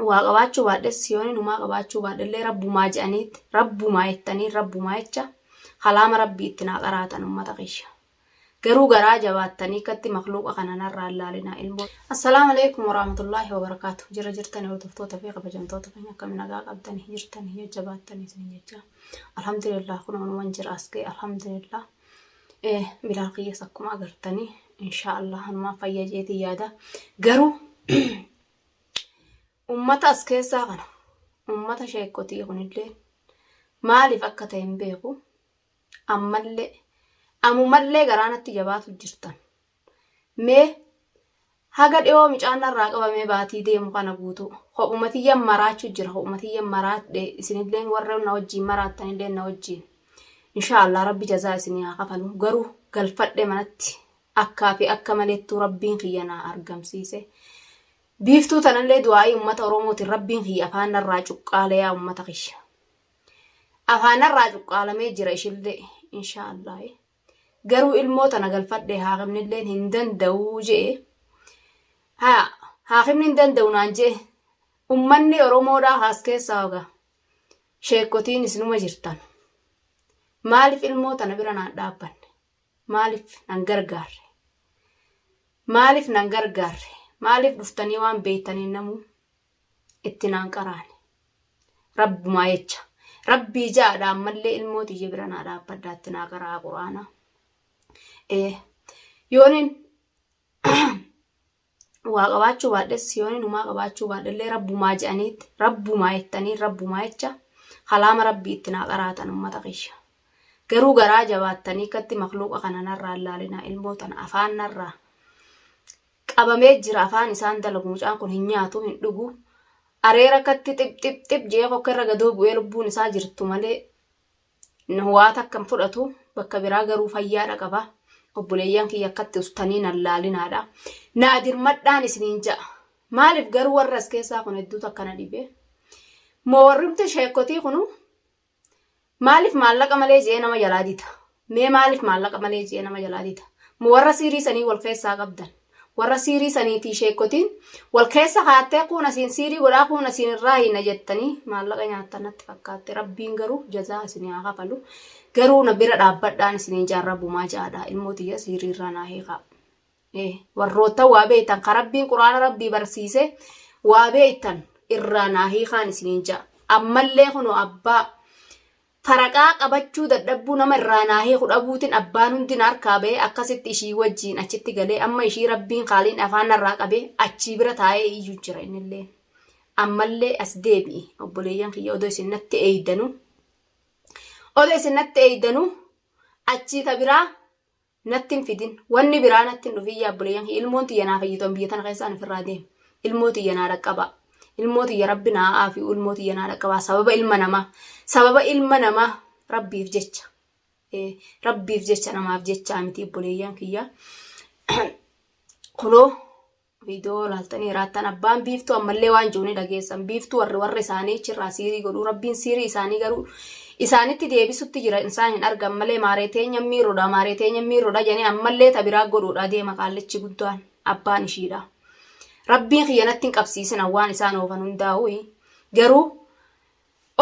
waa qabaachuu baadhes siyooni numaa qabaachuu baadhellee rabbumaa je'aniitti rabbumaa jettanii rabbumaa jecha kalaama rabbii itti naa qaraatan ummata kiyya garuu garaa jabaattanii katti makluuqa kana narraa laalinaa ilmoo assalaamu alaikum waraamatullaahi wabarakaatu jira jirtanii hordoftoota fi kabajamtoota keenya akkami nagaa qabdanii jirtanii jajjabaattanii isin jecha alhamdulillah kun wanuman jira asgee alhamdulillah bilaal kiyyas akkuma agartanii inshaa allah hanumaa fayya jeetii yaada garuu Ummata as keessaa kana ummata sheekkotii kunillee maaliif akka ta'e hin beeku ammallee amumallee garaanatti jabaatu jirtan mee haga dhiyoo micaan narraa qabamee baatii deemu kana guutuu kophumatiyyan maraachuu jira kophumatiyyan maraadhe isinillee warra na wajjiin maraattanillee na wajjiin inshaallah rabbi jazaa isinii haa kafalu garuu galfadhe manatti Akkaa fi akka malettuu Rabbiin kiyya naa argamsiise. Biiftuu tanallee du'aa'ii ummata Oromootiin Rabbiin kiyya afaan narraa cuqqaale yaa ummata kiyya. Afaan narraa cuqqaalamee jira ishillee inshaa Allaah. Garuu ilmoo tana galfadhee haakimnilleen hin danda'uu je'e. Haa haakimni hin danda'u naan je'e. Ummanni Oromoodhaa haas keessaa hogaa. Sheekkotiin isinuma jirtan. Maaliif ilmoo tana bira naan dhaabbanne? Maaliif nan gargaarre? Maaliif nan gargaarre? Maaliif dhuftanii waan beektaniin namuu itti naan qaraane? Rabbumaa jecha. Rabbii ja'adha ammallee ilmoo tiyya bira naa dhaabbadha itti naa qaraa quraana. Ee. Yoonin waa qabaachuu baadhes yoon inumaa qabaachuu baadhellee rabbumaa je'aniitti rabbumaa jettanii rabbumaa jecha kalaama rabbii itti naa qaraatan ummata kiyya garuu garaa jabaattanii akkatti makluuqa kana narraa laalinaa ilmoo tana afaan narraa qabamee jira afaan isaan dalagu mucaan kun hin nyaatu hin dhugu areera akkatti xip xip xip jee kokka irra gadoo bu'ee lubbuun isaa jirtu malee Waa takka hin fudhatu bakka biraa garuu fayyaadha qaba. Obboleeyyaan kiyya akkatti ustanii nan laalinaadha. Naa dirmadhaan isiniin ja'a. Maaliif garuu warra as keessaa kun hedduutu akkana dhibee. Moo warrumti sheekotii kunu maaliif maallaqa malee je'ee nama jalaa dida? Mee maaliif maallaqa malee je'ee nama jalaa dida? Moo warra siirii sanii wal keessaa qabdan? Warra siirii saniitii sheekkotiin wal keessa kaattee kuun asiin siirii godhaa kuun asiin irraa hiina jettanii maallaqa nyaattan natti fakkaatte rabbiin garuu jazaa isin haa kafalu garuu na bira dhaabbadhaan isiniin jaan rabbumaa jaadhaa ilmoo tiyya siirii irraa naa hiikaa. Eh, warroottan waa beektan ka rabbiin quraana rabbii barsiise waa beektan irraa naa hiikaan isiniin ja'a ammallee kunoo abbaa Faraqaa qabachuu dadhabbuu nama irraa naa hiiku dhabuutin abbaan hundi na harkaa ba'ee akkasitti ishii wajjiin achitti galee amma ishii rabbiin kaaliin afaan narraa qabee achii bira taa'ee iyyuu jira innillee. Ammallee as deebi'i obboleeyyan kiyya odoo isin natti eeydanu. Odoo isin natti eeydanu achii ka biraa Natti hin fidin. Wanni biraa natti hin dhufin yaa obboleeyyan kiyya. Ilmoon tiyya naa fayyitu an biyya tana keessa an ofirraa deema. Ilmoo tiyya naa dhaqqabaa. Ilmoo tiyya rabbi naa aafi'u ilmoo tiyya naa dhaqqabaa. Sababa ilma namaa. Sababa ilma namaa rabbiif jecha. Eh, rabbiif jecha namaaf jechaa miti obboleeyyan kiyya. Kunoo Viidiyoo laaltanii hiraattan abbaan biiftuu ammallee waan jiru ni dhageessan. Biiftuu warri warra isaanii achirraa siirii godhu. Rabbiin siirii isaanii garuu isaanitti deebisutti jira isaan hin argan malee maaree teenya miirudha maaree teenya miirudha jedhanii ammallee tabiraa godhuudha deema qaallichi guddaan abbaan ishiidha. Rabbiin kiyyanatti hin qabsiisina waan isaan oofan hundaa'u garuu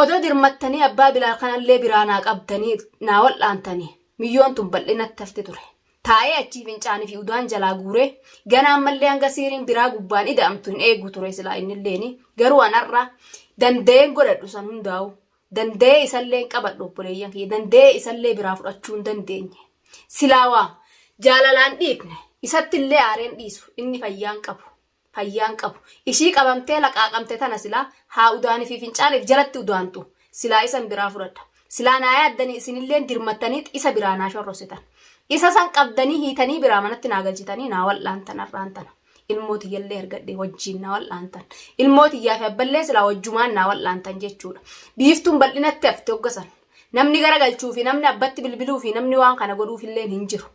Odoo dirmattanii abbaa Bilaal kanallee biraa naa qabdanii naa wal'aantanii miyyoon tun bal'inatti hafti ture. Taa'ee achii fincaanii fi udaan jalaa guuree ganaa ammallee hanga siiriin biraa gubbaan ida'amtu hin eegu ture silaa innilleeni garuu an har'a danda'een godhadhu san hundaa'u danda'ee isallee hin qabadhu obboleeyyan kiyya danda'ee isallee biraa fudhachuu hin dandeenye silaa waa jaalalaan dhiifne isattillee aareen dhiisu inni fayyaan qabu fayyaan qabu. Ishii qabamtee laqaaqamte tana silaa haa udaanii fi fincaaniif jalatti udaantu silaa isan biraa fudhadha. Silaa naa yaaddanii isinilleen dirmattaniit isa biraa naa shorrositan. Isa san qabdanii hiitanii biraa manatti naa galchitanii naa wal'aantan har'aan tana. Ilmoo tiyyallee argadhee wajjiin naa wal'aantan. Ilmoo tiyyaa fi abballee silaa wajjumaan naa wal'aantan jechuudha. Biiftuun bal'inatti hafte hogga san. Namni gara galchuu fi namni abbatti bilbiluu fi namni waan kana godhuufilleen hin jiru.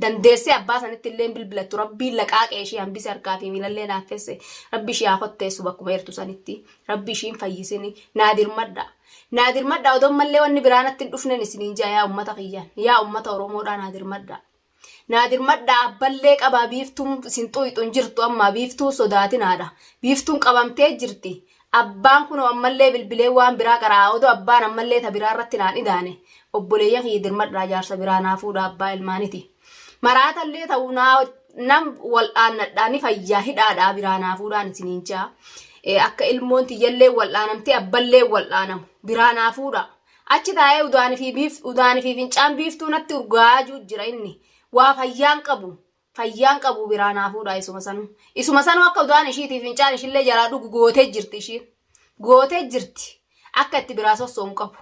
dandeessee abbaa sanitti illee hin bilbilattu rabbiin laqaaqee ishii hambise harkaa fi miilallee laaffesse rabbi ishii haa kotteessu bakkuma eertu sanitti rabbi ishiin fayyisini naa dirmadha naa dirmadha odoo mallee wanni biraa natti hin dhufnen isiniin jaa yaa ummata kiyyaan yaa ummata oromoodhaa naa dirmadha naa dirmadha abballee qabaa biiftuun isin xuyxu hin jirtu ammaa biiftuun sodaatinaadha biiftuun qabamtee jirti Abbaan kunoo ammallee bilbilee waan biraa qara'aa odoo abbaan ammallee ta biraa irratti naan idaane obboleeyyan kiyya dirmadhaa jaarsa biraa naa fuudhaa abbaa ilmaaniti. Maraatallee ta'u naa nan wal'aannadhaa ni fayyaa hidhaadhaa biraa naa fuudhaan isiniin jaa. Akka ilmoon tiyyallee wal'aanamtee abballee wal'aanamu biraa naa fuudhaa. Achi taa'ee udaanii fi biif udaanii fi fincaan biiftuu natti urgaa'aa jira inni. Waa fayyaan qabu Fayyaan qabu biraa naa fuudhaa isuma sanuu. Isuma sanuu akka udaan ishiitii fincaan ishillee jalaa dhugu gootee jirti ishiin. Gootee jirti. Akka itti biraa sosso'u hin qabu.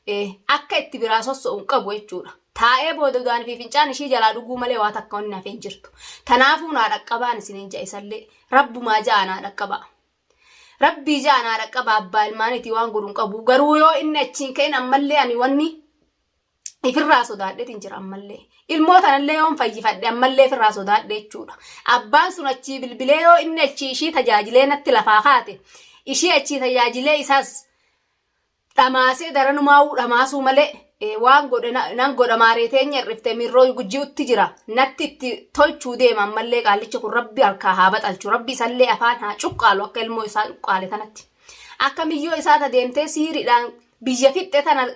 Eh, Akka itti biraa sosso'u hin qabu jechuudha. Taa'ee booda udaan fi fincaan ishii jalaa dhuguu malee waa takka wanni hafee hin jirtu. Tanaafuu naa dhaqqabaan isiniin ja'a isallee. Rabbumaa ja'a naa dhaqqabaa. Rabbii ja'a naa dhaqqabaa abbaa ilmaaniitii waan godhu hin qabu. Garuu yoo inni achiin ka'in ammallee ani wanni ifirraa sodaadheetiin jira ammallee. Ilmoo tanallee yoon fayyifadhe ammallee ifirraa sodaadhe jechuudha. Abbaan sun achii bilbilee yoo inni achii ishii tajaajilee natti lafaa kaate ishii achii tajaajilee isaas dhamaasee daranumaawuu dhamaasuu malee eh, waan godhe na- nan godha maaree teenya hir'ifte miirroo gujji'utti jira natti itti tolchuu deema ammallee qaallicha kun rabbi harkaa haa baxalchu rabbi isallee afaan haa cuqqaalu akka ilmoo isaa cuqqaale tanatti akka miyyoo isaa ta deemtee siiriidhaan biyya fixxe tana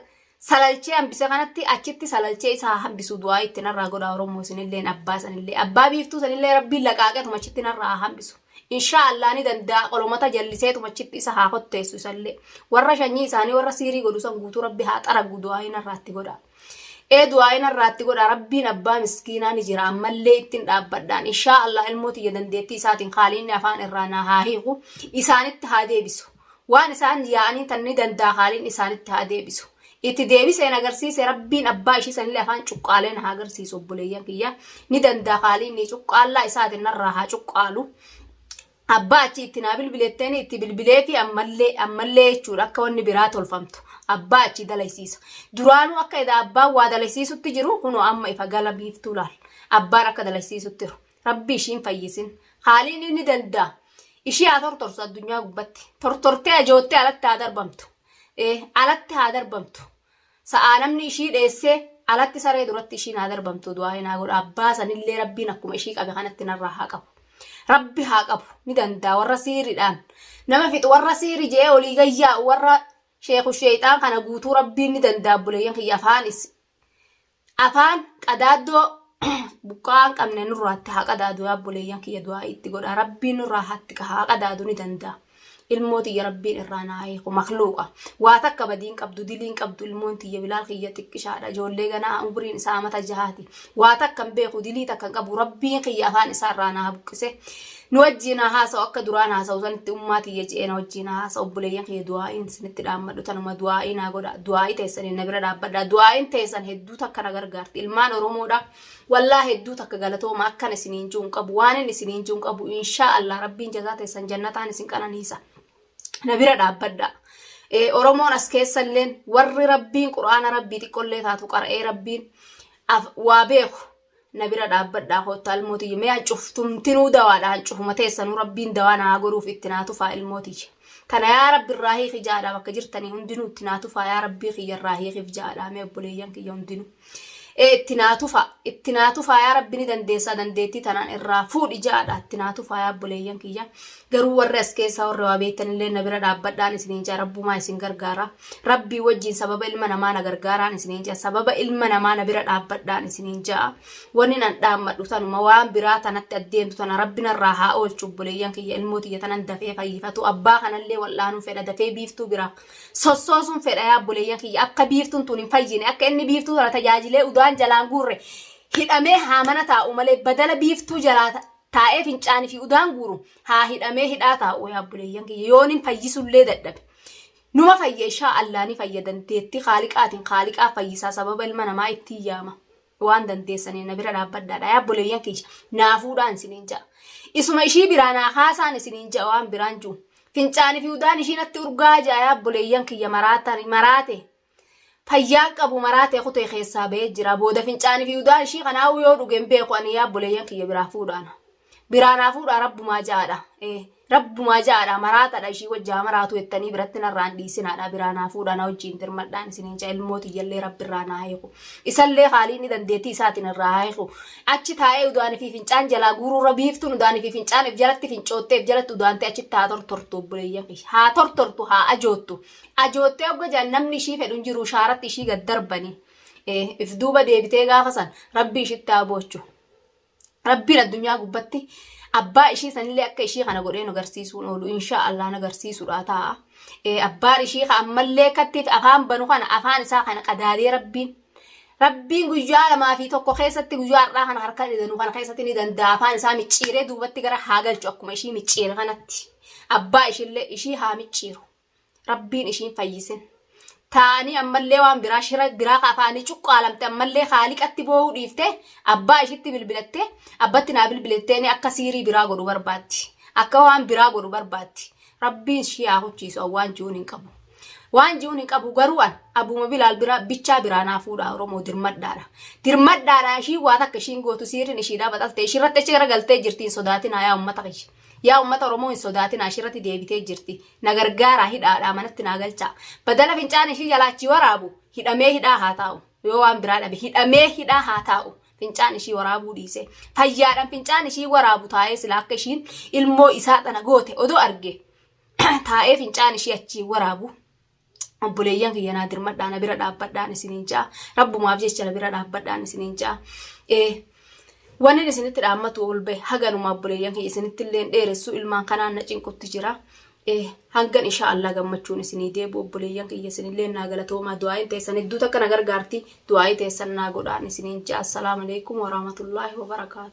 salalchee hambise kanatti achitti salalchee isaa hambisu du'aa itti narraa godhaa Oromoo isinilleen abbaa sanillee abbaa biiftuu sanillee rabbiin laqaaqeetuma achitti narraa hambisu. Inshaa Allah ni danda'a qolomata jalliseetuma achitti isa haa kotteessu isallee warra shanyii isaanii warra siirii godhu san guutuu rabbi haa xaragu du'aa narraatti godhaa. Ee du'aa narraatti godhaa rabbiin abbaa miskiinaa ni jira ammallee ittiin dhaabbadhaan inshaa Allah ilmoo tiyya dandeettii isaatiin haaliinni afaan irraa naa haa hiiku isaanitti haa deebisu. Waan isaan yaa'aniin tan ni danda'a haaliin isaanitti haa deebisu. Itti deebiseen agarsiise rabbiin abbaa ishii sanillee afaan cuqqaalee na haa agarsiisu obboleeyyan kiyya. Ni danda'a haaliin ni cuqqaallaa isaatiin narraa haa cuqqaalu. Abbaa achi itti naa bilbiletteen itti bilbilee fi ammallee ammallee jechuudha akka wanni biraa tolfamtu. Abbaa achi dalaysiisa. Duraanuu akka edaa abbaan waa dalaysiisutti jiru kunoo amma ifa gala biiftuu laal. Abbaan akka dalaysiisutti jiru. Rabbi ishiin fayyisin. Haaliin inni danda'a. Ishii haa tortorsu addunyaa gubbatti. Tortortee ajoottee alatti haa darbamtu. Ee, alatti haa darbamtu. Sa'aa namni ishii dheessee alatti saree duratti ishiin haa darbamtu du'aa hin haa godhu. Abbaa sanillee rabbiin akkuma ishii qabe kanatti narraa haa qabu. Rabbi haa qabu. Ni danda'a warra siiriidhaan. Nama fixu warra siiri je'ee olii gayyaa warra sheeku sheexaan kana guutuu rabbiin ni danda'a buleeyyan kiyya afaanis afaan qadaaddoo buqqaa hin qabne nurraatti haa qadaadu yaa obboleeyyan kiyya du'aa itti godha rabbii nurraa hatti ka haa qadaadu ni danda'a ilmoo tiyya rabbiin irraa naa hiiku makluuqa waa takka badiin qabdu diliin qabdu ilmoon tiyya bilaal kiyya xiqqishaadha ijoollee ganaa umuriin isaa amata jahaati waa takka hin beeku dilii takka hin qabu rabbiin kiyya afaan isaa irraa naa buqqise Nu wajjiin haa haasa'u akka duraan haasa'u sanitti ummaa tiyya je'ee na wajjiin haa haasa'u obboleeyyan kiyya du'aa'iin isinitti dhaammadhu tanuma du'aa'ii naa godha du'aa'ii teessaniin na bira dhaabbadha du'aa'iin teessan hedduu takka na gargaarti ilmaan oromoodha wallaa hedduu takka galatooma akkan isiniin ji'u hin qabu waanin isiniin ji'u hin qabu inshaa allah rabbiin jazaa teessan jannataan isin qananiisa na bira dhaabbadha Eh, oromoon as keessalleen warri rabbiin qur'aana rabbii xiqqollee taatu qara'ee rabbiin af- waa beeku na bira dhaabbadhaa koottaa ilmoo tiyya mee hancuftumtinuu dawaadha hancufuma teessanuu rabbiin dawaa naa godhuuf itti naa tufaa ilmoo tiyya kana yaa rabbi irraa hiiki jaadhaa bakka jirtanii hundinuu itti naa tufaa yaa rabbii kiyya irraa hiikiif jaadhaa mee obboleeyyan kiyya hundinuu ee itti naa tufaa itti naa tufaa yaa rabbi ni dandeessaa dandeettii tanaan irraa fuudhi jaadhaa itti naa tufaa yaa obboleeyyan kiyya Garuu warri as keessaa warri waa beektan illee na bira dhaabbadhaan isiniin jaa rabbumaa isin gargaara. Rabbii wajjin sababa ilma namaa na gargaaraan isiniin jaa sababa ilma namaa na bira dhaabbadhaan isiniin jaa. Wanni nan dhaammadhu tanuma waan biraa tanatti addeemtu tana rabbi narraa haa oolchu obboleeyyan kiyya ilmoo tiyya tanan dafee fayyifatu abbaa kanallee wal'aanuun fedha dafee biiftuu biraa. Sossoosuun fedha yaa obboleeyyan kiyya akka biiftuun tun hin fayyine akka inni biiftuu tana tajaajilee udaan jalaan guurre hidhamee haamana taa'u malee badala biiftuu jalaata Taa'ee fincaanii fi udaan guuru haa hidhamee hidhaa taa'u yaa obboleeyyan kiyya yoonin fayyisullee dadhabe. Numa fayya ishaa allaa ni fayya dandeettii kaaliqaatiin kaaliqaa fayyisaa sababa ilma namaa ittiin yaama. Waan dandeessaniin na bira dhaabbadhaadha yaa obboleeyyan kiyya naa fuudhaan isiniin ja'a. Isuma ishii biraa naa kaasaan isiniin ja'a waan biraan jiru. Fincaanii fi udaan ishii natti urgaa ja'a yaa obboleeyyan kiyya maraataan maraate. Fayyaa qabu maraa ta'e kutee keessaa ba'ee jira. Booda fincaanii fi udaa ishii kanaa yoo dhuge hin beeku ani yaa boleeyyan kiyya biraa fuudhaana. Biraa naa fuudhaa rabbumaa ja'aadha. Eh, rabbumaa ja'aadha maraatadha ishii wajji haa maraatu jettanii biratti narraan dhiisinaadha biraa naa fuudhaa na wajjiin dirmadhaan isiniin ja'a ilmoo tiyyallee rabbi irraa naa hiiku. Isallee haalii inni dandeettii isaatiin irraa haa hiiku. Achi taa'ee udaanii fi fincaan jalaa guuruu irra biiftuun udaanii fi fincaan if jalatti fincoottee if jalatti udaantee achitti haa tortortu obboleeyyan kiyya. Haa tortortu haa ajoottu. Ajoottee ogga jedhan namni ishii fedhu hin jiru shaaratti ishii gad darbanii. Eh, If duuba deebitee gaafa san rabbi ishitti haa boochu. Rabbiin addunyaa gubbatti abbaa ishii sanillee akka ishii kana godhee nu garsiisuun oolu insha Allah na garsiisudha ta'a. Eh, Abbaan ishii ka ammallee kattiif afaan banu kana afaan isaa kana qadaadee rabbiin Rabbiin guyyaa lamaa fi tokko keessatti guyyaa har'aa kana harka dhidanu kana keessatti ni danda'a afaan isaa micciiree duubatti gara haa galchu akkuma ishii micciire kanatti. Abbaa ishillee ishii haa micciiru. rabbiin ishiin fayyisin taa'anii ammallee waan biraa shira biraa ka afaanii cuqqaalamte ammallee haaliqatti boo'uu dhiifte abbaa ishitti bilbilatte abbatti naa bilbilatteeni akka siirii biraa godhu barbaatti akka waan biraa godhu barbaatti rabbiin ishii haa huchiisu an waan ji'uun hin qabu waan ji'uun hin qabu garuu an abuma bilaal biraa bichaa biraa naa fuudha oromoo dirmadhaadha dirmadhaadha ishii waa takka ishiin gootu siiriin ishiidhaa baxalte ishii irratti achi gara galtee jirtiin sodaatinaa yaa ummata kiyya Yaa ummata Oromoo hin sodaatinaa ishirratti deebitee jirti. Na gargaaraa hidhaadhaa manatti naa galchaa. Badala fincaan ishii jalaa achii waraabu hidhamee hidhaa haa taa'u. Yoo waan biraa dhabe hidhamee hidhaa haa taa'u. Fincaan ishii waraabuu dhiise. Fayyaadhaan fincaan ishii waraabu taa'ee silaa akka ishiin ilmoo isaa tana goote odoo arge taa'ee fincaan ishii achii waraabu obboleeyyan kiyya naa dirmadhaa na bira dhaabbadhaan isiniin ja'a rabbumaaf jecha na bira dhaabbadhaan isiniin ja'a ee wanni isinitti dhaammatu ol bahe haganuma obboleeyyan kiyya isinitti illee dheeressu ilmaan kanaan na cinqutti jira ee hangan insha Allah gammachuun isinii deebu obboleeyyan kiyya isinillee naa galatoomaa du'aayin teessan hedduu takka na gargaarti du'aayi teessan naa godhaan isiniin ja'a assalaamu alaikum warahmatullaahi wabarakaatu